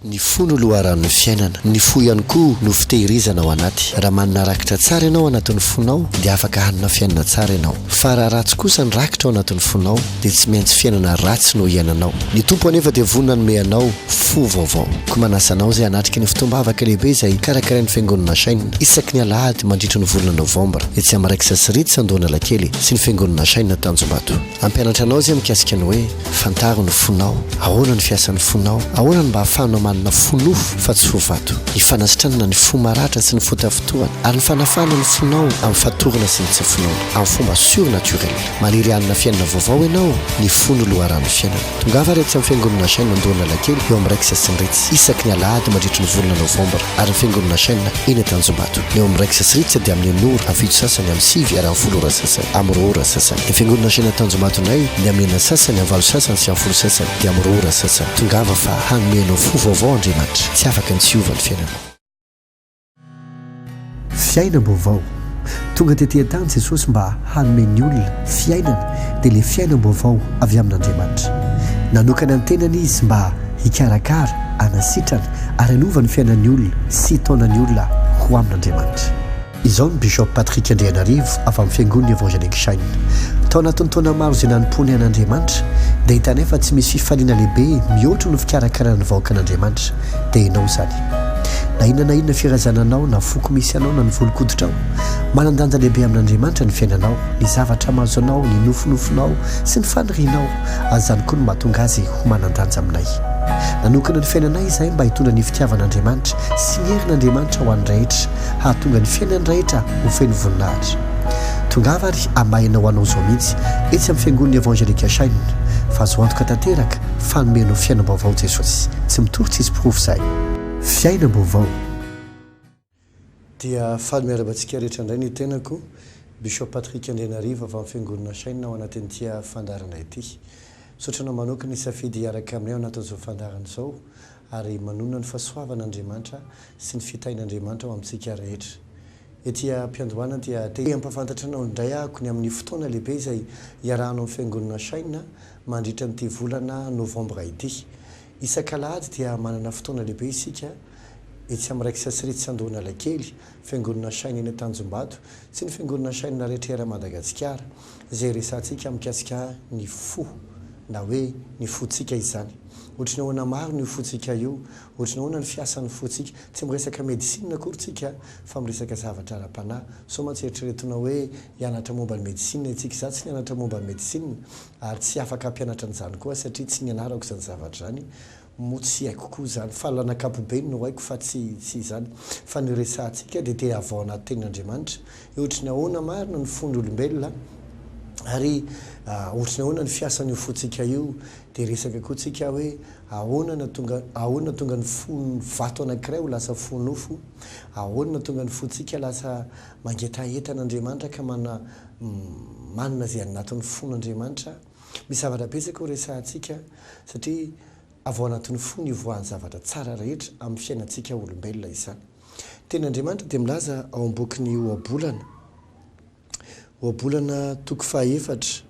Ny fo no loharanon'ny fiainana. Ny fo ihany koa no fitehirizana ao anaty. Raha manana rakitra tsara ianao ao anatin'ny fonao dia afaka hanana fiainana tsara ianao. Fa raha ratsy kosa ny rakitra ao anatin'ny fonao dia tsy maintsy fiainana ratsy no hiainanao. Ny Tompo anefa dia vonona hanome anao fo vaovao. Koa manasa anao izay hanatrika ny fotoam-bavaka lehibe izay karakarain'ny Fiangonana Achain isaky ny alahady mandritra ny volana novambra etsy amin'ny Raiksa Sy Ritsy Andohanalakely sy ny Fiangonana Achain Tanjombato. Hampianatra anao izay mikasika ny hoe. Fantaro ny fonao, ahoana ny fiasan'ny fonao, ahoana no mba ahafahanao manana fo nofo fa tsy fo vato, ny fanasitranana ny fo maratra sy ny fo tafintohana, ary ny fanafahana ny fonao amin'ny fatorana sy ny tsy finoana, amin'ny fomba sur naturel. Maniry hanana fiainana vaovao ianao, ny fo no loharanon'ny fiainana. Tongava ary aty amin'ny Fiangonana Shine Andohan'Alakely, eo amin'ny Rex sy ny Ritz, isaky ny alahady mandritry ny volana novambra, ary ny Fiangonana Shine eny Antanjombato, ny eo amin'ny Rex sy Ritz dia amin'ny enora, amin'ny fito sasany, amin'ny sivy ary amin'ny folo ora sasany, amin'ny roa ora sasany. Ny fiangonana Ansiana Tanjomaty indray dia amin'ny enina sasany, amin'ny valo sasany sy amin'ny folo sasany dia amin'ny roa ora sasany. Tongava fa hanome anao fo vaovao Andriamanitra. Tsy afaka ny tsy hiova ny fiainanao. Fiainam-baovao. Tonga tety an-tany Jesosy mba hanome ny olona fiainana dia ilay fiainam-baovao avy amin'Andriamanitra. Nanokana ny tenany Izy mba hikarakara, hanasitrana ary hanova ny fiainan'ny olona sy hitaona ny olona ho amin'Andriamanitra. Izao ny Bishop Patrick Andrianarivo avy amin'ny Fiangonan'ny Evangelique Shine. Tao anatin'ny taona maro izay nanompoanay an'Andriamanitra, dia hitanay fa tsy misy fifaliana lehibe mihoatra noho ny fikarakarana ny vahoakan'Andriamanitra. Dia ianao izany. Na inona na inona firazana anao, na foko misy anao, na ny volon-koditrao, manan-danja lehibe amin'Andriamanitra ny fiainanao, ny zavatra mahazo anao, ny nofinofinao sy ny fanirianao, ary izany koa no mahatonga azy ho manan-danja aminay. Nanokana ny fiainanay izahay mba hitondra ny fitiavan'Andriamanitra sy ny herin'Andriamanitra ho an'ny rehetra, hahatonga ny fiainany rehetra ho feno voninahitra. Tongava ary hamahena ho anao izao mihitsy etsy amin'ny Fiangonana Evangelika Shine fa azo antoka tanteraka fa hanome anao fiainam-baovao Jesosy. Tsy mitory tsisy porofo izay. Fiainam-baovao. Dia faly miarahaba antsika rehetra indray ny tenako, Bishop Patrick Andrianarivo avy amin'ny Fiangonana Shine ao anatin'ity fandaharana ity. Misaotra anao manokana nisafidy hiaraka aminay ao anatin'izao fandaharana izao. ary manonona ny fahasoavan' Andriamanitra sy ny fitahin' Andriamanitra ho amintsika rehetra. Ety am-piandohana dia te hampahafantatra anao indray ahako ny amin' ny fotoana lehibe izay hiarahanao amin'ny Fiangonana Shine mandritra an'ity volana Novambra ity. Isak'alahady dia manana fotoana lehibe isika etsy amin'ny Raiksa Sritsy Andohanalakely, Fiangonana Shine eny Antanjombato, Tsy ny fiangonana Shine rehetra eran Madagatsikara izay resahantsika mikasika ny fo na hoe ny fontsika izany. Ohatry ny ahoana marina io fontsika io? Ohatry ny ahoana ny fiasan'ny fontsika? Tsy miresaka medicine akory tsika fa miresaka zavatra ara-panahy. Sao mantsy eritreretina hoe hianatra momba ny medicine itsika. Izaho tsy nianatra momba ny medicine ary tsy afaka hampianatra an'izany koa satria tsy nianarako izany zavatra izany. Moa tsy haiko koa izany fa lan'ankapobeny no haiko fa tsy tsy izany. Fa ny resahantsika dia te havaona tenin'Andriamanitra. Hoe ohatry ny ahoana marina ny fon'olombelona ary ohatry ny ahoana ny fiasan'io fontsika io. Dia resaka koa tsika hoe ahoana na tonga ahoana no tonga ny fon'ny vato anankiray ho lasa fo nofo. Ahoana no tonga ny fontsika lasa mangetaheta an'Andriamanitra ka mana manana izay anatiny fon'Andriamanitra. Misy zavatra betsaka ho resahantsika satria avy ao anatin'ny fo no hivoahan'ny zavatra tsara rehetra amin'ny fiainantsika olombelona izany. Teny Andriamanitra dia milaza ao amin'ny bokin'ny Ohabolana, Ohabolana toko faha efatra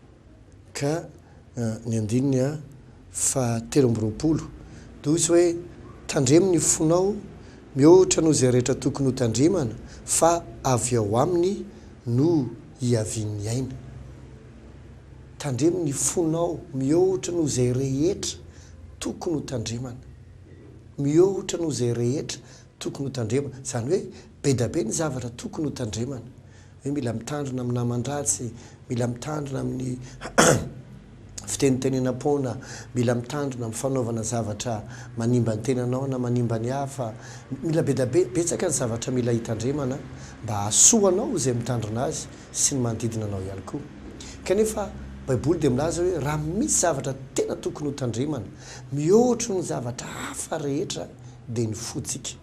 ka ny andininy faha telo amby roapolo, dia hoy izy hoe, Tandremo ny fonao mihoatra noho izay rehetra tokony ho tandremana fa avy ao aminy no hiavian'ny aina. Tandremo ny fonao mihohotra noho izay rehetra tokony ho tandremana. Mihohotra noho izay rehetra tokony ho tandremana. Izany hoe bedabe ny zavatra tokony ho tandremana. Hoe mila mitandrina amin'ny naman-dratsy, mila mitandrina amin'ny fitenitenenam-poana, mila mitandrina amin'ny fanaovana zavatra manimba ny tenanao na manimba ny hafa. Mila bedabe, betsaka ny zavatra mila hitandremana mba hahasoa anao izay mitandrina azy. sy ny manodidina anao ihany koa. Kanefa, Baiboly dia milaza hoe raha misy zavatra tena tokony hotandremana mihoatry ny zavatra hafa rehetra, dia ny fontsika.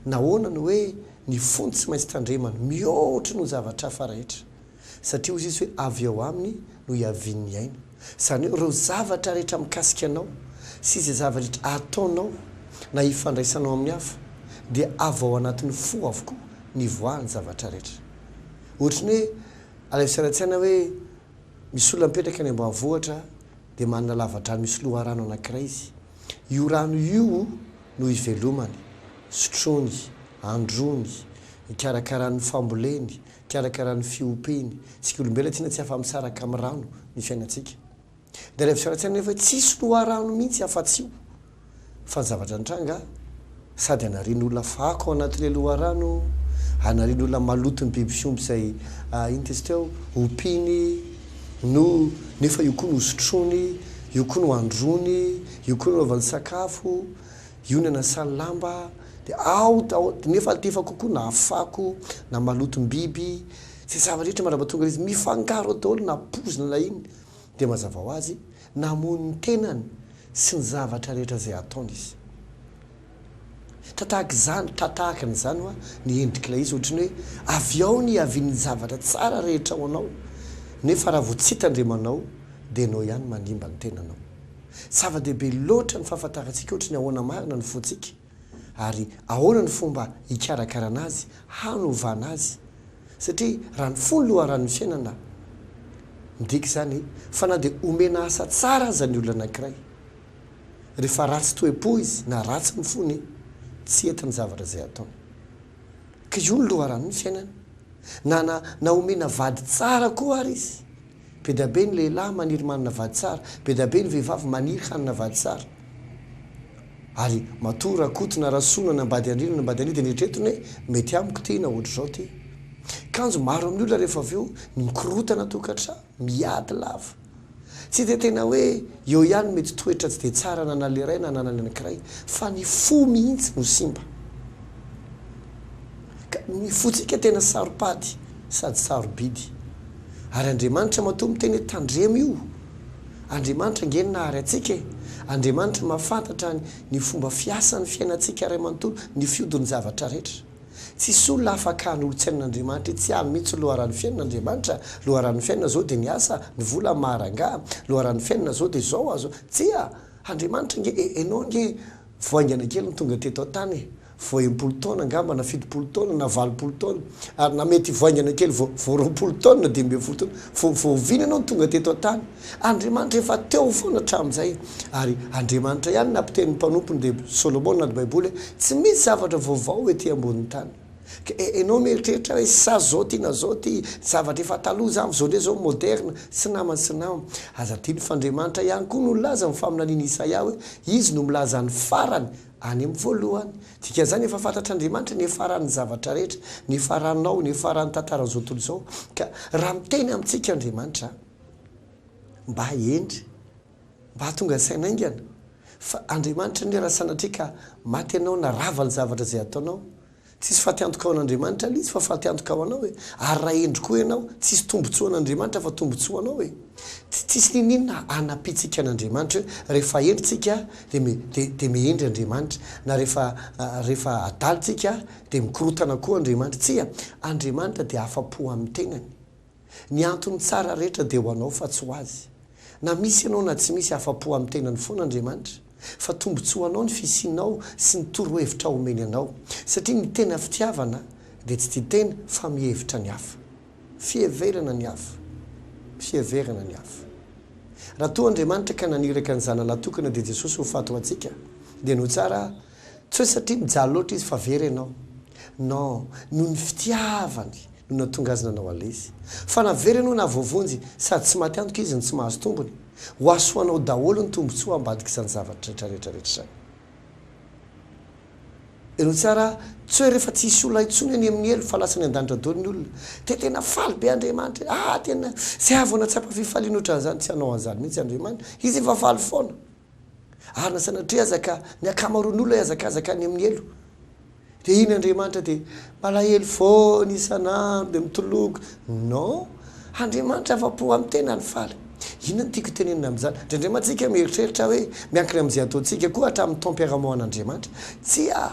Nahoana no hoe ny fo no tsy maintsy tandremana mihoatry ny ho zavatra hafa rehetra? Satria hoy Izy hoe avy ao aminy no hiavian'ny aina. Izany hoe ireo zavatra rehetra mikasika anao sy izay zava-drehetra ataonao na ifandraisanao amin'ny hafa dia avy ao anatin'ny fo avokoa nivoahan'ny zavatra rehetra. Ohatry ny hoe alaivo tsaina hoe misy olona mipetraka any ambanivohitra dia manana lavadrano misy loharano anankiray izy. Io rano io no ivelomany, sotroiny, androany, ikarakarany ny famboleny, ikarakarany ny fiompiany. Isika olombelona tsinona tsy afa-misaraka amin'ny rano ny fiainantsika. Dia ilay fisaoran-tsaina nefa tsisy loharano mihitsy afa-tsy io fa ny zavatra nitranga sady anarian'olona fako ao anatin'ilay loharano, anarian'olona maloton'ny biby fiompy izay inona tetsy teo? ompiany no nefa io koa no hosotroiny, io koa no handroany, io koa no hanaovany sakafo, io no hanasany lamba, dia ao daholo, nefa alitefa kokoa na fako na malotom-biby, izay zava-drehetra mandrapatonga ilay izy mifangaro ao daholo na pozina na inona. Dia mazava ho azy, namoy ny tenany sy ny zavatra rehetra izay ataony izy. Tra tahaka izany, tra tahaka an'izany hoa ny endrik'ilay izy, ohatry ny hoe avy ao ny hiavian'ny zavatra tsara rehetra ao anao, nefa raha vao tsy hita Andriamanao, dia ianao ihany manimba ny tenanao. Zava-dehibe loatra ny fahafantarantsika ohatry ny ahoana marina ny fontsika. ary ahoana ny fomba hikarakarana azy, hanovana azy, satria raha ny fo no loharanon'ny fiainana, midika izany fa na dia omena asa tsara aza ny olona anankiray, rehefa ratsy toe-po izy na ratsy ny fony, tsy hety ny zavatra izay ataony. Ka io no loharanon'ny fiainana, na na omena vady tsara koa ary izy. Be dia be ny lehilahy maniry manana vady tsara, be dia be ny vehivavy maniry hanana vady tsara. Ary matoa Rakoto na Rasoa na nambady an-dry na nambady an-dry dia neritreretiny hoe, mety amiko ity na ohatr'izao ity. Kanjo maro amin'ny olona rehefa avy eo ny mikorontana tokantrano, miady lava. Tsy dia tena hoe eo ihany ny mety toetra tsy dia tsara ananan'ilay iray na ananan'ny anankiray, fa ny fo mihitsy no simba. Ka ny fontsika tena saropady sady sarobidy. Ary Andriamanitra matoa miteny hoe tandremo io. Andriamanitra ange ny nahary antsika e. Andriamanitra mahafantatra ny ny fomba fiasan'ny fiainantsika iray manontolo, ny fiodin'ny zavatra rehetra. Tsisy olona afaka hanolotsaina an'Andriamanitra itsy aminy mihitsy loharanon'ny fiainana Andriamanitra, loharanon'ny fiainana zao dia ny asa, ny vola, ny maha rangaha, loharanon'ny fiainana zao dia zao azo, tsia! Andriamanitra ange e, enao ange vao haingana kely no tonga teto an-tany e. vao enimpolo taona angamba na fitopolo taona na valopolo taona ary na mety hivaingana kely vao vao roapolo taona dimy ambin'ny folo taona vao vao oviana ianao no tonga teto an-tany? Andriamanitra efa teo foana hatramin'izay ary Andriamanitra ihany nampiteny ny mpanompony dia Solomona anaty baiboly hoe tsy misy zavatra vaovao ety ambonin'ny tany ka e enao mieritreritra hoe sa zao ty na zao ty zavatra efa taloha zany fa zao ndray zao moderna tsy namana sy nama aza adino fa Andriamanitra ihany koa no nilaza ny faminanian'i Isaia hoe izy no milaza ny farany Any amin'ny voalohany. Dikan'izany efa fantatr'Andriamanitra ny hiafaran'ny zavatra rehetra, ny hiafaranao, ny hiafaran'ny tantaran'izao tontolo izao. Ka raha miteny amintsika Andriamanitra, mba hendry, mba hahatonga ny saina haingana, fa Andriamanitra anie raha sanatria ka maty ianao na rava ny zavatra izay ataonao, Tsisy faty antoka ao an'Andriamanitra le izy fa faty antoka ao anao e! Ary raha hendry koa ianao, tsisy tombotsoa an'Andriamanitra fa tombotsoa anao e! Tsy tsisy niniana hanapintsika an'Andriamanitra hoe rehefa hendry tsika de me de de mehendry Andriamanitra, na rehefa rehefa adala tsika de mikorotana koa Andriamanitra, tsia! Andriamanitra de afa-po amin'ny tenany. Ny antony tsara rehetra dia ho anao fa tsy ho azy. Na misy ianao na tsy misy, afa-po amin'ny tenany foana Andriamanitra, fa tombontsoanao ny fisianao sy ny torohevitra omeny anao. Satria ny tena fitiavana dia tsy tia tena fa mihevitra ny hafa. Fiheverana ny hafa. Fiheverana ny hafa. Raha toa Andriamanitra ka naniraka ny Zanany Latokana dia Jesosy ho faty ho antsika, dia no tsara Tsy hoe satria mijaly loatra izy fa very ianao. Non, noho ny fitiavany no nahatonga azy nanao an'ilay izy. Fa na very ianao na voavonjy, sady tsy maty antoka izy no tsy mahazo tombony. Ho hasoanao daholo ny tombontsoa ambadik'izany zavatra rehetra rehetra rehetra izany. Henoy tsara, tsy hoe rehefa tsy hisy olona intsony any amin'ny helo fa lasa any an-danitra daholo ny olona, dia tena faly be Andriamanitra e! Ah, tena, zay vao nahatsapa fifaliana ohatran'izany, tsy hanao an'izany mihitsy Andriamanitra, Izy efa faly foana. Ary na sanatria aza ka ny ankamaroan'olona hiazakazaka any amin'ny helo, dia iny Andriamanitra dia malahelo foana isan'andro dia mitoloko. Non! Andriamanitra afa-po amin'ny tenany, faly. Inona no tiako itenenina amin'izany? Dia indray mantsy isika mieritreritra hoe miankina amin'izay ataontsika koa hatramin'ny taom-piarahamoan'Andriamanitra? Tsia!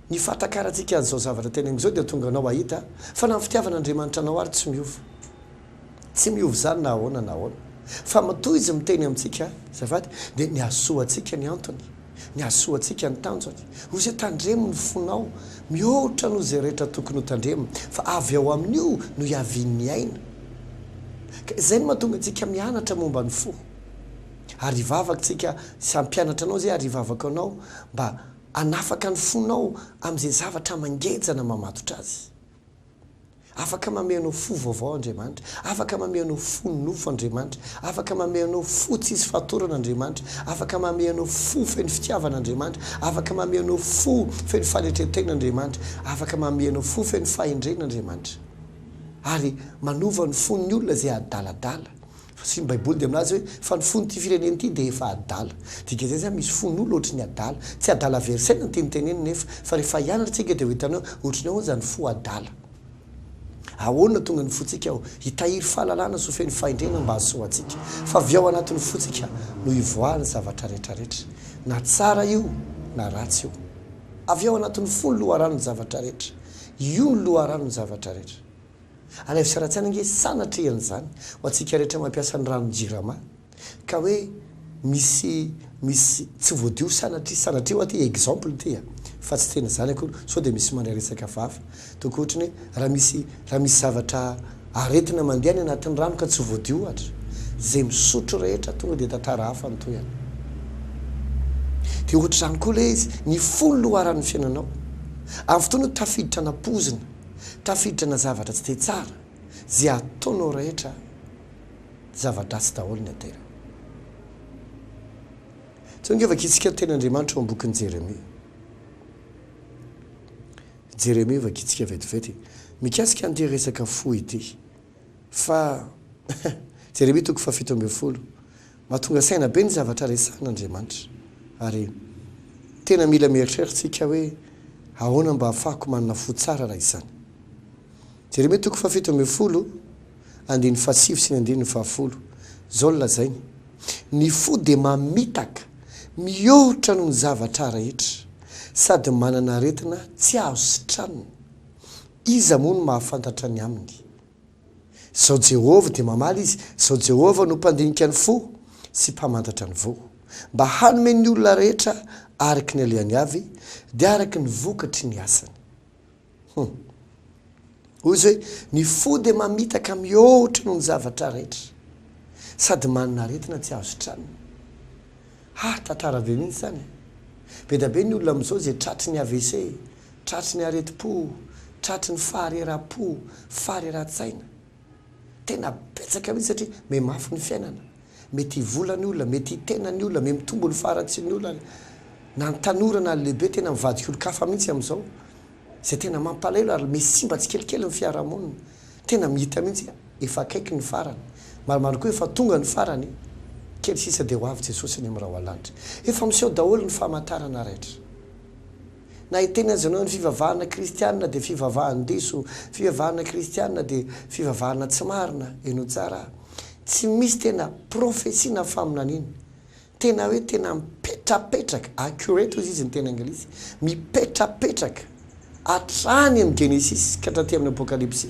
Ny fahatakarantsika an'izao zavatra teneniko izao dia tonga anao hahita fa na ny fitiavan'Andriamanitra anao ary tsy miova. Tsy miova izany na ahoana na ahoana. Fa matoa Izy miteny amintsika, azafady, dia ny hahasoa antsika ny antony, ny hahasoa antsika ny tanjony. Hoy Izy hoe, Tandremo ny fonao, mihoatra noho izay rehetra tokony ho tandremina, fa avy ao amin'io no hiavian'ny aina. Ka izay no mahatonga antsika mianatra momba ny fo. Ary hivavaka tsika, sy hampianatra anao izay ary hivavaka anao mba hanafaka ny fonao amin'izay zavatra mangejana mamatotra azy. Afaka mamehy anao fo vaovao Andriamanitra. Afaka mamehy anao fo nofo Andriamanitra. Afaka mamehy anao fo tsisy fatorana Andriamanitra. Afaka mamehy anao fo feno fitiavana Andriamanitra. Afaka mamehy anao fo feno fanetren-tena Andriamanitra. Afaka mamehy anao fo feno fahendrena Andriamanitra. Ary manova ny fon'ny olona izay adaladala. Fasian'ny baiboly dia milaza hoe fa ny fon'ity firenena ity dia efa adala. Dikan'izay izany misy fon'olona ohatry ny adala. Tsy adala very saina ny teny teneniny nefa fa rehefa hianatra tsika dia ho hitanao hoe ohatry ny ahoana izany fo adala. Ahoana tonga ny fontsika ao? Hitahiry fahalalana sy ho feno fahendrena mba hahasoa antsika. Fa avy ao anatin'ny fontsika no hivoahan'ny zavatra rehetrarehetra. Na tsara io na ratsy io. Avy ao anatin'ny fo ny loharanon'ny zavatra rehetra. Io no loharanon'ny zavatra rehetra. Alaivo sy Ratsiana ange sanatrian' izany ho antsika rehetra mampiasa ny ranon' jirama ka hoe misy misy tsy voadio sanatria sanatria hoa ty exemple ty a! fa tsy tena izany akory sao dia misy mandray resaka vafa toa koa ohatry ny hoe raha misy raha misy zavatra aretina mandeha any anatin'ny rano ka tsy voadio ohatra izay misotro rehetra tonga dia tantara hafa ny tohiny dia ohatra izany koa ilay izy ny fony loharan'ny fiainanao amin'ny fotoana tafiditra anam-pozina Tafiditra na zavatra tsy dia tsara zay ataonao rehetra zava-dratsy daholo ny aterany. Tonga efa kitsikero teny Andriamanitra eo am-bokin'i Jeremia. Jeremia efa kitsikero vetivety mikasika an'ity resaka fo ity fa Jeremia toko fahafito ambin'ny folo Mahatonga saina be ny zavatra resahan'Andriamanitra, ary tena mila mieritreritra isika hoe, Ahoana mba hahafahako manana fo tsara raha izany? Jeremia toko fahafito ambin'ny folo, andininy fahasivy sy ny andininy fahafolo. Izao no lazainy, Ny fo dia mamitaka, mihoatra noho ny zavatra rehetra, sady manana aretina tsy azo sitranina. Iza moa no mahafantatra ny aminy? Sao Jehovah dia mamaly izy, sao Jehovah no mpandinika ny fo sy mpamantatra ny voa. Mba hanome ny olona rehetra araka ny alehany avy, dia araka ny vokatry ny asany. Hum. Hoy izy hoe, Ny fo dia mamitaka mihoatra noho ny zavatra rehetra, sady manana aretina tsy azo tranony. Ha, tantara be mihitsy izany e! Be dia be ny olona amin'izao izay tratry ny AVC, Tratry ny aretim-po, tratry ny fahareraha-po, faharerahan-tsaina. Tena betsaka mihitsy satria mihemafy ny fiainana. Mety hivola ny olona, mety hitena ny olona, mety mitombo ny faharatsian'ny olona. Na ny tanora na ny lehibe tena mivadika olon-kafa mihitsy amin'izao. Izay tena mampalahelo ary misy simba tsikelikely ny fiarahamonina. Tena mihita mihitsy hoe efa akaiky ny farany. Marimarina koa efa tonga ny farany. Kely sisa dia ho avy Jesosy any amin'ny Rahoalanitra. Efa miseho daholo ny famantarana rehetra. Na hiteny aza ianao ny fivavahana kristiana dia fivavahan-diso, fivavahana kristiana dia fivavahana tsy marina, heno tsara a! Tsy misy tena prophetie na faminaniana tena hoe tena mipetrapetraka, accurate hozy izy ny teny anglisy, mipetrapetraka hatrany amin'ny Genesisy ka hatraty amin'ny Apokalypsy.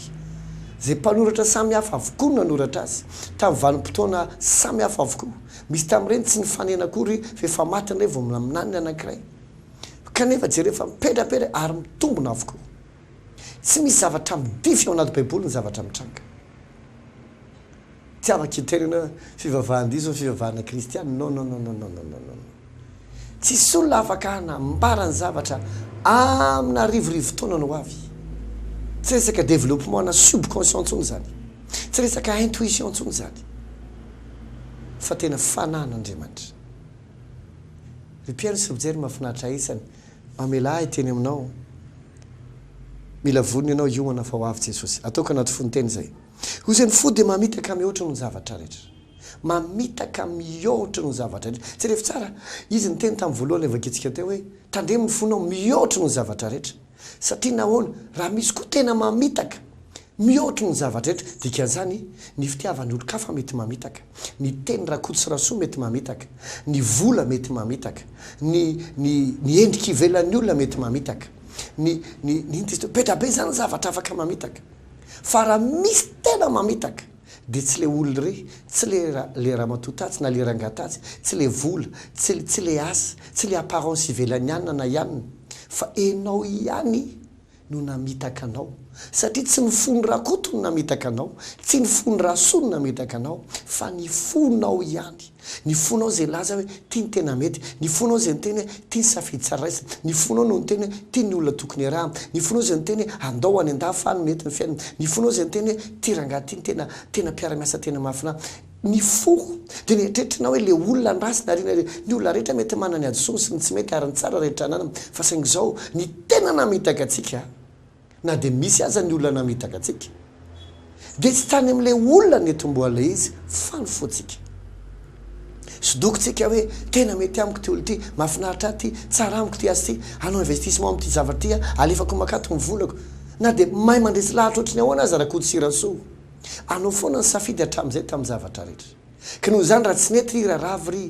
Izay mpanoratra samy hafa avokoa no nanoratra azy, tamin'ny vanim-potoana samy hafa avokoa. Misy tamin'ireny tsy nifanena akory fa efa maty indray vao minanin'ny anankiray. Kanefa jereo fa mipedrapetra ary mitombona avokoa. Tsy misy zavatra midify ao anaty Baiboly ny zavatra mitranga. Tiavako iterena hoe fivavahan-diso ny fivavahana kristiana. Non, non, non, non, non, non, non. Tsisy olona afaka hanambara ny zavatra amina arivo rivo taonany ho avy. Tsy resaka développement-na subconscient intsony izany. Tsy resaka intuition intsony izany. Fa tena fanahin'Andriamanitra. Ry mpihaino sy mpijery mafinaritra isany mamelà ahy teny aminao Mila vonona ianao hiomana fa ho avy Jesosy Ataoko anaty fo ny teny izay Hoy izay ny fo dia mamitaka mihoatra noho ny zavatra rehetra Mamitaka mihoatra noho ny zavatra rehetra Jerevy tsara Izy niteny tamin'ny voalohany nivakiantsika teo hoe Tandremo ny fonao mihoatra noho ny zavatra rehetra Satria nahoana? Raha misy koa tena mamitaka Mihoatry ny zava-drehetra, dikan'izany, ny fitiavan'ny olon-kafa mety mamitaka, ny teny rakoto sy rasoa mety mamitaka, ny vola mety mamitaka, ny, ny, ny endrika ivelan'ny olona mety mamitaka, ny, ny, ny inona izy teo? Be dia be izany ny zavatra afaka mamitaka. Fa raha misy tena mamitaka, dia tsy ilay olona irery, tsy ilay ra, ilay ramatoa tatsy na ilay rangahy tatsy, tsy ilay vola, tsy ilay, tsy ilay asa, tsy ilay apparence ivelan'ny anona na i anona, fa ianao ihany no namitaka anao, satria tsy ny fon'i Rakoto no namitaka anao, tsy ny fon'i Rasoa no namitaka anao, fa ny fonao ihany, ny fonao izay nilaza hoe ity no tena mety, ny fonao izay niteny hoe ity ny safidy tsara raisina, ny fonao no niteny hoe ity ny olona tokony iarahana, ny fonao izay niteny hoe andao any an-dafy any no mety ny fiainana, ny fonao izay niteny hoe ity rangahy ity no tena, tena mpiara-miasa tena mahafinaritra. Ny fo dia ny eritreritrinao hoe ilay olona ny ratsy nariana ireny. Ny olona rehetra mety manana ny hadisoany sy ny tsy mety ary ny tsara rehetra ananany fa saingy izao ny tena namitaka antsika na dia misy aza ny olona namitaka antsika dia tsy tany amin'ilay olona netomboha ilay izy fa ny fontsika. Sodoko tsika hoe tena mety amiko ity olona ity, mahafinaritra ahy ity, tsara amiko ity asa ity, hanao investissement amin'ity zavatra ity aho, alefako makaty ny volako. Na dia mahay mandresy lahatra ohatry ny ahoana aza Rakototsiransoa. Anao foana ny safidy hatramin'izay tamin'ny zavatra rehetra. Ka noho izany raha tsy nety ry raravy ry,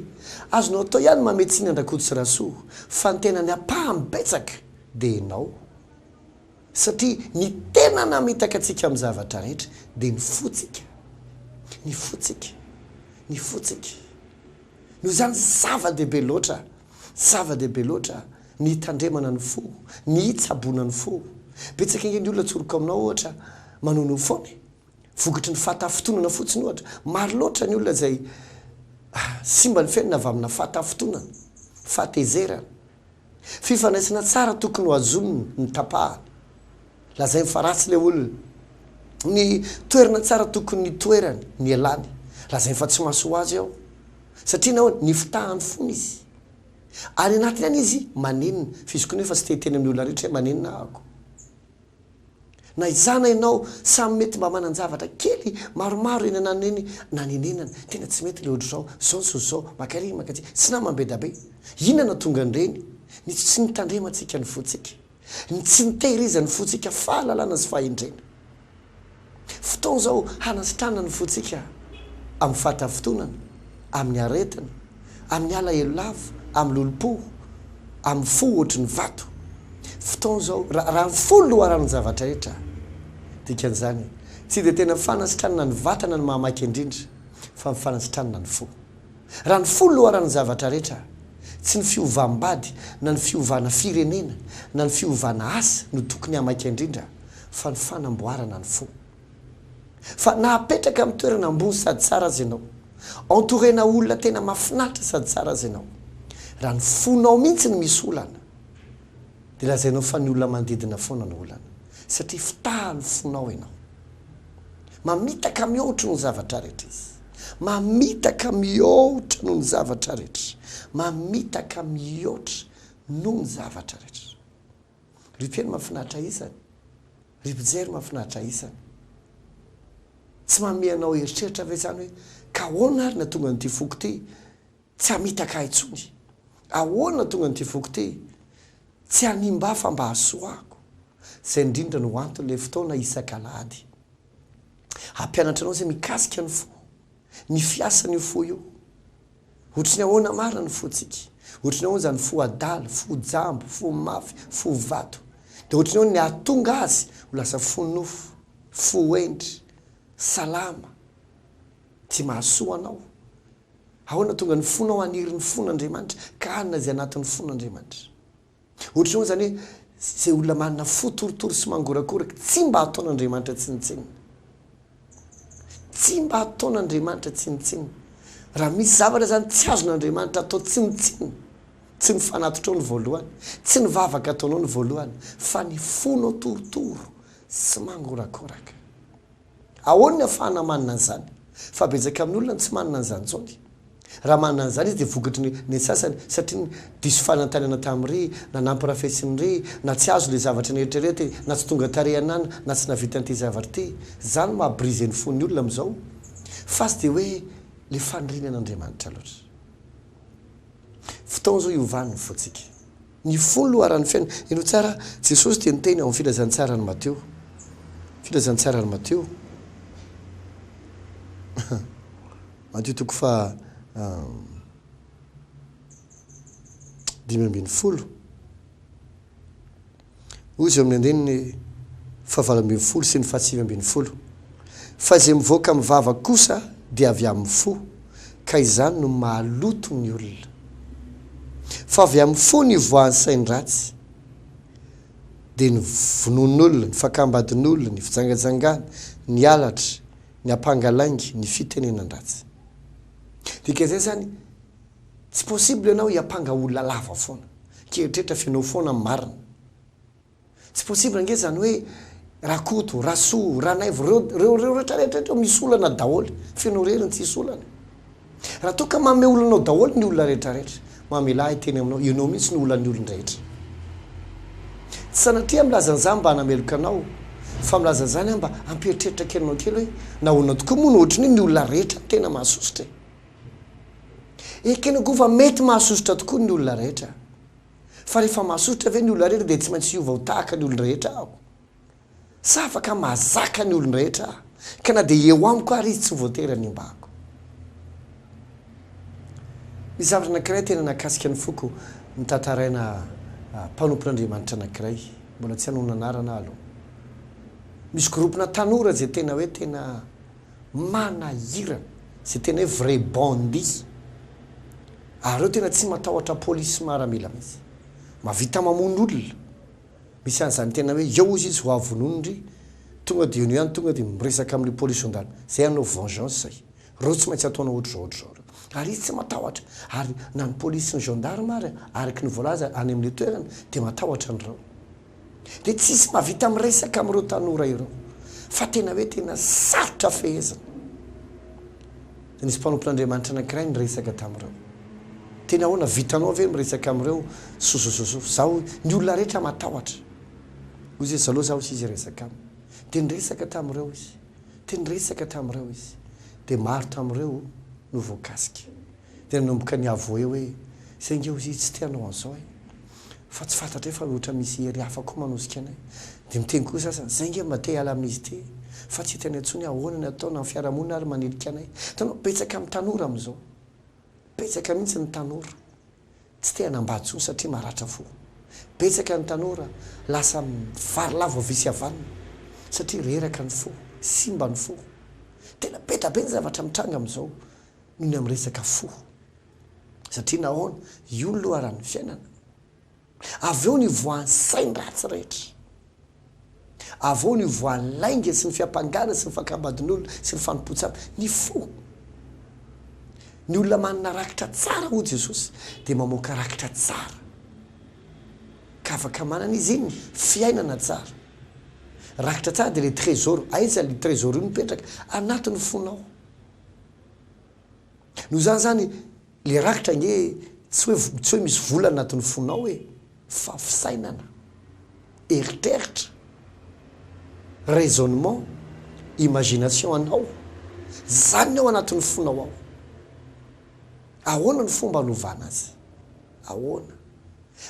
azonao atao ihany ny mamehy tsiny an-dRakoto sy Rasoa fa ny tenany ampahany betsaka dia ianao. Satria ny tena namitaka antsika amin'ny zavatra rehetra dia ny fontsika. Ny fontsika. Ny fontsika. Noho izany zava-dehibe loatra Zava-dehibe loatra ny hitandremana ny fo, ny hitsaboana ny fo. Betsaka ange ny olona atsoriko aminao ohatra manono foana e! Vokatry ny fahatafintonana fotsiny ohatra. Maro loatra ny olona izay simba ny fiainana avy amina fahatafintonana, fahatezerana. Fifandraisana tsara tokony ho azoniny ny tapahany. Lazainy fa ratsy ilay olona. Ny toerana tsara tokony hitoerany, nialany. Lazainy fa tsy mahasoa azy aho. Satria nahoana? Nifitahany fona izy. Any anatiny any izy manenina, fa izy koa anefa tsy te hiteny amin'ny olona rehetra hoe manenina ahako. Na izaho na ianao, samy mety mba manan-javatra kely maromaro eny ananona eny nanenenana. Tena tsy mety ilay ohatr'izao, izao ny soa izao, maka ery maka aty. Tsy namany be dia be. Inona no nahatonga an'ireny? Ny tsy nitandremantsika ny fontsika. Ny tsy nitehirizan'ny fontsika fahalalana sy fahendrena. Fotoana izao hanasitrana ny fontsika amin'ny fahatafintonana, amin'ny aretina, amin'ny alahelo lava, amin'ny lolompo, amin'ny fo ohatry ny vato. Fotoana izao, raha ny fo no loharanon'ny zavatra rehetra. Dikan'izany, tsy dia tena fanasitranana ny vatana no mahamaika indrindra, fa ny fanasitranana ny fo. Raha ny fo loharan'ny zavatra rehetra, tsy ny fiovam-bady na ny fiovana firenena na ny fiovana asa no tokony hamaika indrindra fa ny fanamboarana ny fo. Fa na apetraka amin'ny toerana ambony sady tsara aza ianao, entourena olona tena mahafinaritra sady tsara aza ianao, raha ny fonao mihitsy no misy olana, dia lazainao fa ny olona manodidina foana no olana, satria fitahan'ny fonao ianao. Mamitaka mihoatra ny zavatra rehetra izy. Mamitaka mihoatra noho ny zavatra rehetra. Mamitaka mihoatra noho ny zavatra rehetra. Ry mpino mahafinaritra ahy isany. Ry mpijery mahafinaritra ahy isany. Tsy mamehy anao eritreritra ve izany hoe ka ahoana ary no hahatonga an'ity foko ity Tsy hamitaka ahy intsony. Ahoana tonga an'ity foko ity? Tsy hanimba ahy fa mba hahasoako. Izay indrindra no anton'ilay fotoana isak'alahady. Hampianatra anao izay mikasika ny fo, ny fiasan'io fo io. Ohatry ny ahoana marina ny fontsika? Ohatry ny ahoana izany fo adala, fo jambo, fo mafy, fo vato? Dia ohatry ny ahoana ny hahatonga azy ho lasa fo nofo, fo hendry, salama, tia mahasoa anao? Ahoana tonga ny fonao haniry ny fon' Andriamanitra ka hanina izay anatin'ny fon' Andriamanitra? Ohatr'izao izany hoe izay olona manana fo torotoro sy mangorakoraka tsy mba ataon' Andriamanitra tsinontsinona. Tsy mba ataon' Andriamanitra tsinontsinona. Raha misy zavatra izany tsy azon' Andriamanitra atao tsinontsinona, tsy ny fanatitrao no voalohany, tsy ny vavaka ataonao no voalohany, fa ny fonao torotoro sy mangorakoraka. Ahoana ny hahafahana manana an'izany? Fa betsaka amin'ny olona no tsy manana an'izany intsony. Raha manana an'izany izy dia vokatry ny ny sasany satria ny diso fanantenana tamin'ry na nampirafesin'ry na tsy azo ilay zavatra neritreretiny na tsy tonga tarehin'an na tsy nahavitany ity zavatra ity. Izany no maha briser ny fon'ny olona amin'izao fa tsy dia hoe ilay faniriany an'Andriamanitra loatra. Fotoana izao hiovan'ny fontsika. Ny fony loharan'ny fiainana. Heno tsara, Jesosy dia niteny ao amin'ny Filazantsaran'i Mateo. Filazantsaran'i Mateo. Mateo toko faha dimy ambin'ny folo. Hoy izao amin'ny andininy fahavalo ambin'ny folo sy ny fahasivy ambin'ny folo, Fa izay mivoaka amin'ny vava kosa dia avy amin'ny fo, ka izany no mahaloto ny olona. Fa avy amin'ny fo no ivoahan'ny sain-dratsy, dia ny vonoan'olona, ny fakam-badin'olona, ny fijangajangana, ny halatra, ny ampanga lainga, ny fitenenan-dratsy. Dikan'izay izany, Tsy possible ianao hiampanga olona lava foana. Keritreritra fa ianao foana no marina. Tsy possible ange izany hoe Rakoto, Rasoa, Ranaivo, reo, reo, reo rehetra rehetra reo misy olana daholo fa ianao irery no tsisy olana. Raha toa ka manome olana ao daholo ny olona rehetra rehetra, mamelà ahy hiteny aminao, ianao mihitsy no olan'ny olon-drehetra. Tsy sanatria milaza an'izany mba hanameloka anao fa milaza an'izany aho mba hampieritreritra kely anao kely hoe nahoana tokoa moa no ohatran'io ny olona rehetra no tena mahasosotra e. Ekena koa fa mety mahasosotra tokoa ny olona rehetra. Fa rehefa mahasosotra ve ny olona rehetra dia tsy maintsy hiova ho tahaka ny olon-drehetra aho? Sa afaka mahazaka ny olon-drehetra aho, ka na dia eo amiko àry izy tsy voatery hanimbako? Misy zavatra anankiray tena nakasika ny foko notantaraina mpanompon'Andriamanitra anankiray, mbola tsy hanao ny anarana aho aloha. Misy gropona tanora izay tena hoe tena Manahirana. Zay tena hoe vrai bandits. Ary reo tena tsy matahotra police sy maramila mihitsy. Mavita mamono olona. Misy an'izany tena hoe eo ozy izy hoavy vonono ndry tonga de eo no ihany tonga de miresaka amle police zandary. Zay hanao vengeance zay. Reo tsy maintsy ataonao otrzao otrzao reo. Ary izy tsy matahotra. Ary na ny police sy ny gendarme ary araky ny voalaza any amle toerana de matahotra an'reo. dia tsy hisy mahavita miresaka amin'ireo tanora ireo fa tena hoe tena sarotra fehezina. Nisy mpanompon'Andriamanitra anankiray niresaka tamin'ireo. Tena ahoana, vitanao ve miresaka amin'ireo sosososo? Zaho, ny olona rehetra matahotra. Hoy izy hoe, zalao zaho sy izy hiresaka aminy. Dia niresaka tamin'ireo izy. Dia niresaka tamin'ireo izy. Dia maro tamin'ireo no voakasika. Dia nanomboka ny avouer hoe, Saingy eo izy tsy te hanao an'izao e! Fa tsy fantatray fa ohatra misy hery hafa koa manosika anay. Dia miteny koa ny sasany, Zay nge mba te hiala amin'izy ity e! Fa tsy hita eny intsony ahoana ny ataony na ny fiarahamonina ary manilika anay. Hitanao, betsaka amin'ny tanora amin'izao. Betsaka mihitsy ny tanora tsy te hanambady intsony satria maratra fo. Betsaka ny tanora lasa varilava havia sy havanana satria reraka ny fo, simba ny fo. Tena be da be ny zavatra mitranga amin'izao. Ny amin'ny resaka fo. Satria nahoana? Io ny loharan'ny fiainana. Avy eo ny hivoahan'ny sainy ratsy rehetra. Avy eo ny hivoahan'ny lainga sy ny fiampangana sy ny fankambadin'olona sy ny fanompoan-tsamy. Ny fo. Ny olona manana rakitra tsara, hoy Jesosy, dia mamoaka rakitra tsara. Ka afaka manana izy iny fiainana tsara. Rakitra tsara dia ilay trésor. Aiza ilay trésor io mipetraka? Anatin'ny fonao. Noho izany izany, ilay rakitra ange tsy hoe tsy hoe misy vola anatin'ny fonao e, fa fisainana, eritreritra, raisonnement, imagination anao, izany ny ao anatin'ny fonao ao. Ahoana ny fomba anovana azy? Ahoana?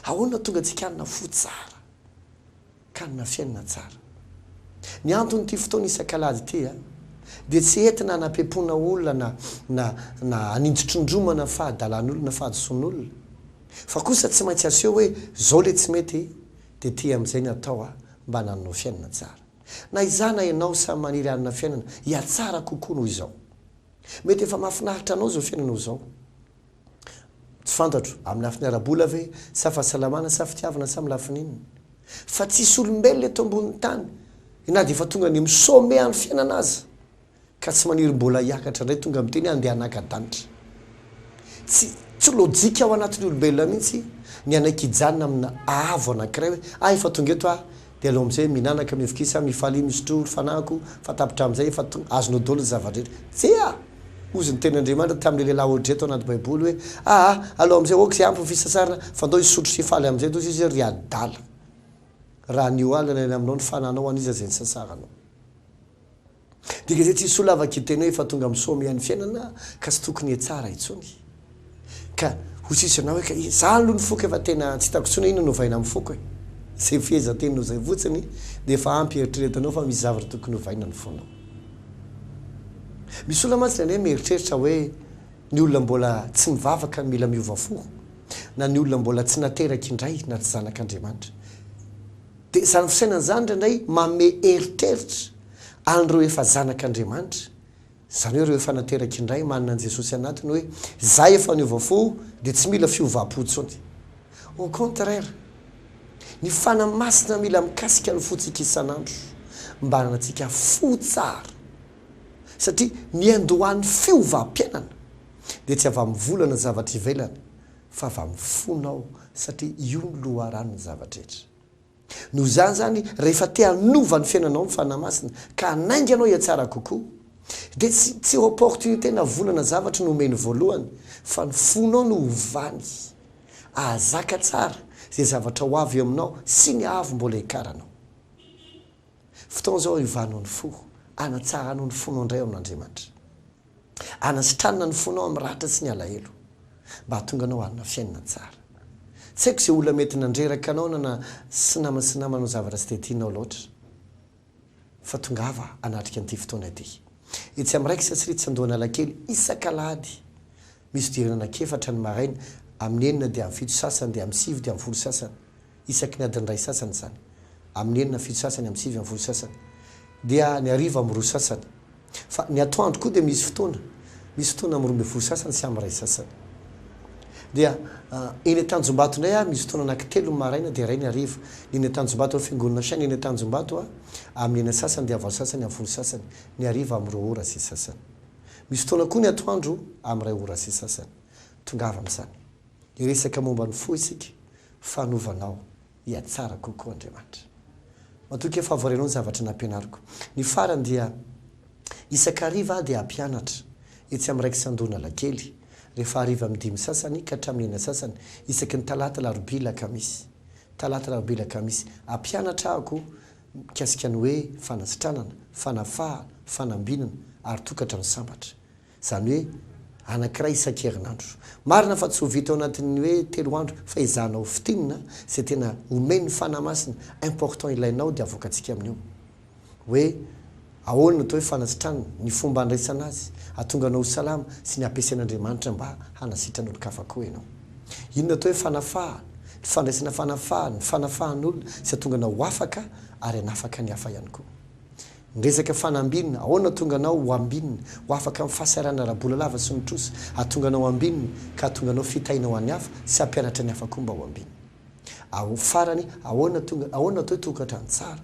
Ahoana no tonga antsika hanana fo tsara? ka hanana fiainana tsara. Ny anton'ity fotoana isan-kalady ity dia tsy entina hanapempoana olona na na hanintotrindromana fahadalan'olona, fahadisoan'olona, fa kosa tsy maintsy aseho hoe izao ilay tsy mety dia ity amin'izay no atao mba hanananao fiainana tsara. Na izaho na ianao samy maniry hanana fiainana hihatsara kokoa noho izao. Mety efa mahafinaritra anao izao fiainanao izao, Tsy fantatro, amin'ny lafiny ara-bola ve, sa fahasalamana, sa fitiavana, sa amin'ny lafiny inona. Fa tsisy olombelona eto ambonin'ny tany, na dia efa tonga any amin'ny sommet an'ny fiainana aza, ka tsy maniry mbola hiakatra indray tonga miteny hoe andeha hanaka danitra. Tsy, tsy lojika ao anatin'ny olombelona mihitsy ny hanaiky hijanona amina haavo anankiray hoe, ah efa tonga eto aho, Dia aleo amin'izay mihinanaka, mivokisa, mifalia, misotroa ny fanahiko, fa tapitra amin'izay efa tonga, azonao daholo ny zava-drehetra. Tsia! Hozy ny Tenin'Andriamanitra tamin'ilay lehilahy Audrey tao anaty Baiboly hoe, Aa, aleo amin'izay aoka izay ampy ny fisasarana, fa ndao hisotro sy hifaly amin'izay toy izay ry adala. Raha ny ho alina ny any aminao ny fanahinao, an'iza izay nisasaranao? Dia izay tsy soa lava kitay anao efa tonga misaoa miha ny fiainana ka tsy tokony hetsara intsony ka ho tsisy anao eka izaho aloha ny foko efa tena tsy hitako intsony inona no ovaina amin'ny foko e izay fehezanteninao izay fotsiny dia efa ampy eritreretanao fa misy zavatra tokony ovaina ny fonao misy olona mantsy ny anay mieritreritra hoe ny olona mbola tsy mivavaka no mila miova fo na ny olona mbola tsy nateraka indray na tsy zanak'Andriamanitra Dia izany fisainana izany indraindray manome eritreritra an'ireo efa zanak'Andriamanitra, izany hoe ireo efa nateraka indray, manana an'i Jesosy anatiny hoe, Izaho efa niova fo dia tsy mila fiovam-po intsony. Au contraire, ny Fanahy Masina mila mikasika ny fontsika isan'andro mba hananantsika fo tsara. Satria ny andohan'ny fiovam-piainana dia tsy avy amin'ny vola na zavatra ivelany fa va mifona aho satria io no loharanon'ny zava-drehetra. Noho izany izany, rehefa te hanova ny fiainanao ny Fanahy Masina ka hanainga anao hihatsara kokoa, dia tsy tsy opportunité na vola na zavatra no omeny voalohany, fa ny fonao no ovany hahazaka tsara izay zavatra ho avy eo aminao sy ny haavo mbola hiakaranao. Fotoana izao hiovanao ny fo, hanatsaranao ny fonao indray ao amin'Andriamanitra. Anasitranina ny fonao amin'ny ratra sy ny alahelo, mba hahatonga anao hanana fiainana tsara. Tsy haiko izay olona mety nandreraka anao na na sy namana sy namanao zavatra tsy dia tianao loatra. Fa tongava hanatrika an'ity fotoana ity. Etsy amin'ny Raikitra sy Ritsy Andohanalakely isak'alahady Misy fidirana anankiefatra ny maraina, amin'ny enina dia amin'ny fito sasany dia amin'ny sivy dia amin'ny folo sasany, isaky ny adiny iray sasany izany, amin'ny enina fito sasany amin'ny sivy amin'ny folo sasany, dia ny hariva amin'ny roa sasany. Fa ny atoandro koa dia misy fotoana, misy fotoana amin'ny roa ambin'ny folo sasany sy amin'ny iray sasany. Dia eny Antanjombato indray aho, misy fotoana anankitelo ny maraina dia iray ny hariva. Ny eny Antanjombato ireo fiangonana saina eny Antanjombato, amin'ny enina sasany dia valo sasany amin'ny folo sasany, ny hariva amin'ny roa ora sy sasany. Misy fotoana koa ny atoandro amin'ny iray ora sy sasany. Tongava amin'izany. Hiresaka momba ny fo isika, fanovanao hihatsara kokoa Andriamanitra. Matoa kay fahavoaranao ny zavatra nampianariko. Ny farany dia isan-kariva aho dia hampianatra etsy amin'ny Rex Andohanalakely, rehefa hariva amin'ny dimy sasany ka hatramin'ny enina sasany, isaky ny talata, alarobia, alakamisy. Talata, alarobia, alakamisy. Hampianatra aho koa mikasika ny hoe fanasitranana, fanafahana, fanambinana ary tokantrano sambatra. Izany hoe anankiray isan-kerinandro. Marina fa tsy ho vita ao anatin'ny hoe telo andro fa ezahana ho fintinina izay tena omen'ny Fanahy Masina important ilainao dia avoakantsika amin'io hoe Ahoana no atao hoe fanasitranana? Ny fomba handraisana azy hahatonga anao ho salama sy ny hampiasain'Andriamanitra mba hanasitrana olon-kafa koa ianao. Inona atao hoe fanafahana? Ny fandraisana fanafahana, ny fanafahan'olona sy hahatonga anao ho afaka ary hanafaka ny hafa ihany koa. Ny resaka fanambinina, ahoana no hahatonga anao ho ambinina, ho afaka amin'ny fahasahiranana ara-bola lava sy ny trosa, hahatonga anao ambinina ka hahatonga anao fitahiana ho an'ny hafa sy hampianatra ny hafa koa mba ho ambinina. Ao, farany, ahoana no hahatonga, ahoana no atao hoe tokantrano tsara?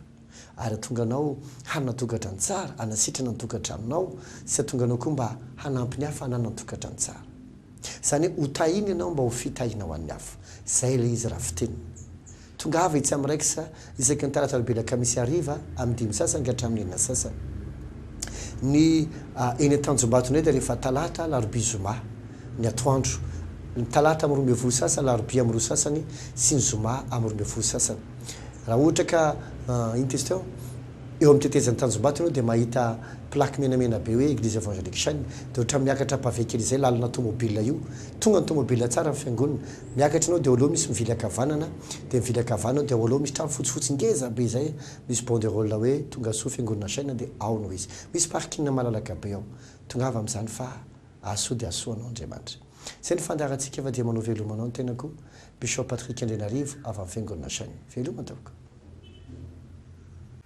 ary hatonga anao hanana tokantrano tsara, hanasitrana ny tokantranonao sy hatonga anao koa mba hanampy ny hafa hanana ny tokantrano tsara. Izany hoe ho tahiny ianao mba ho fitahiana ho an'ny hafa. Izay ilay izy raha fitenina. Tongava etsy amin'ny Rex isaky ny talata alarobia alakamisy hariva amin'ny dimy sasany ka hatramin'ny enina sasany. Ny eny Antanjombato indray dia rehefa talata, alarobia, zoma ny atoandro. Ny talata amin'ny roa ambin'ny folo sasany, alarobia amin'ny roa sasany sy ny zoma amin'ny roa ambin'ny folo sasany. Raha ohatra ka iny tetsy teo, eo amin'ny tetezan'ny tanjombato ianao dia mahita plaque menamena be hoe Eglise Evangelique Shine, dia ohatran'ny miakatra pave kely izay lalana tomobil io, tonga ny tomobil tsara ny fiangonana, miakatra ianao dia eo aloha misy mivily ankavanana, dia mivily ankavanana dia ao aloha misy trano fotsifotsy ngeza be izay misy banderole hoe Tongasoa Fiangonana Shine dia ao no izy. Misy parking malalaka be ao. Tongava amin'izany fa hahasoa dia hahasoa anao Andriamanitra. Izay no fandaharantsika fa dia manao veloma anao ny tenako Bishop Patrick Andrianarivo avy amin'ny Fiangonana Nasainy. Veloma tompoko.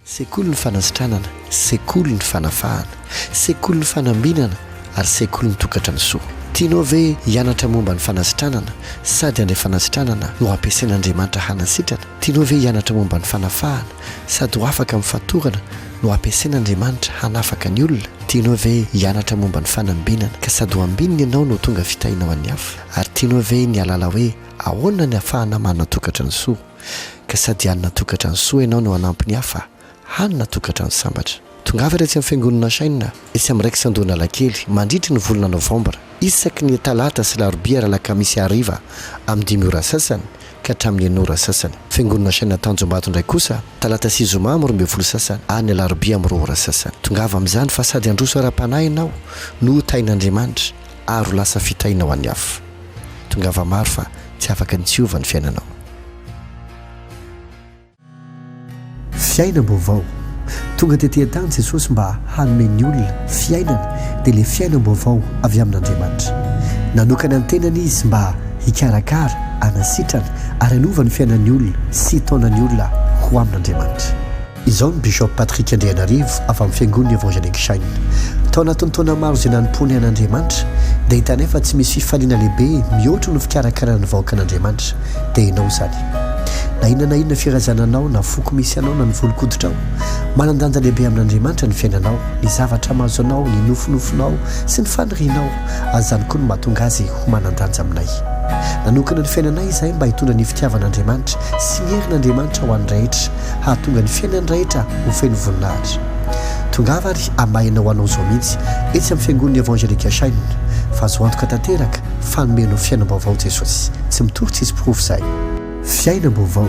Sekolin'ny fanasitranana, sekolin'ny fanafahana, sekolin'ny fanambinana ary sekolin'ny tokatra ny soa. Tianao ve hianatra momba ny fanasitranana sady andray fanasitranana no ampiasain'Andriamanitra hanasitrana? Tianao ve hianatra momba ny fanafahana? Sady ho afaka amin'ny fatorana no ampiasain'Andriamanitra hanafaka ny olona? Tianao ve hianatra momba ny fanambinana ka sady ho ambinina ianao no tonga fitahiana ho an'ny hafa? Ary tianao ve ny hahalala hoe ahoana ny hahafahana manana tokantrano soa ka sady hanana tokantrano soa ianao no hanampy ny hafa hanana tokantrano sambatra? Tongava ary etsy amin'ny Fiangonana Shain, etsy amin'ny Rex Andohanalakely, mandritry ny volana novambra, isaky ny talata sy larobia ary alakamisy hariva amin'ny dimy ora sasany ka hatramin'ny enina ora sasany. Fiangonana Shain Tanjombato indray kosa, talata sy zoma amin'ny roa ambin'ny folo sasany ary ny alarobia amin'ny roa ora sasany. Tongava amin'izany fa sady handroso ara-panahy ianao no ho tahin'Andriamanitra ary ho lasa fitahiana ho an'ny hafa. Tongava maro fa tsy afaka ny tsy hiova ny fiainanao. Fiainam-baovao. Tonga tety an-tany Jesosy mba hanome ny olona fiainana, dia ilay fiainam-baovao avy amin'Andriamanitra. Nanokana ny tenany izy mba hikarakara, hanasitrana ary hanova ny fiainan'ny olona sy hitaona ny olona ho amin'Andriamanitra. Izao ny Bishop Patrick Andrianarivo avy amin'ny Fiangon'ny Evangelic Shine, Tao anatin'ny taona maro izay nanompoanay an'Andriamanitra, dia hitanay fa tsy misy fifaliana lehibe mihoatra ny fikarakarana ny vahoakan'Andriamanitra. dia ianao izany. Na inona na inona firazana anao, na foko misy anao, na ny volon-koditrao, manan-danja lehibe amin'Andriamanitra ny fiainanao, ny zavatra mahazo anao, ny nofinofinao sy ny fanirianao, ary izany koa no mahatonga azy ho manan-danja aminay. Nanokana ny fiainanay izahay mba hitondra ny fitiavan'Andriamanitra sy ny herin'Andriamanitra ho an'ny rehetra, hahatonga ny fiainan'ny rehetra ho feno voninahitra. Tongava ary hamaha ianao hanao izao mihitsy etsy amin'ny Fiangonan'ny Evangelika Shine. Fahazoantoka tanteraka. fa nomeno fiainam-baovao Jesosy, tsy mitory tsisy porofo izay. Fiainam-baovao.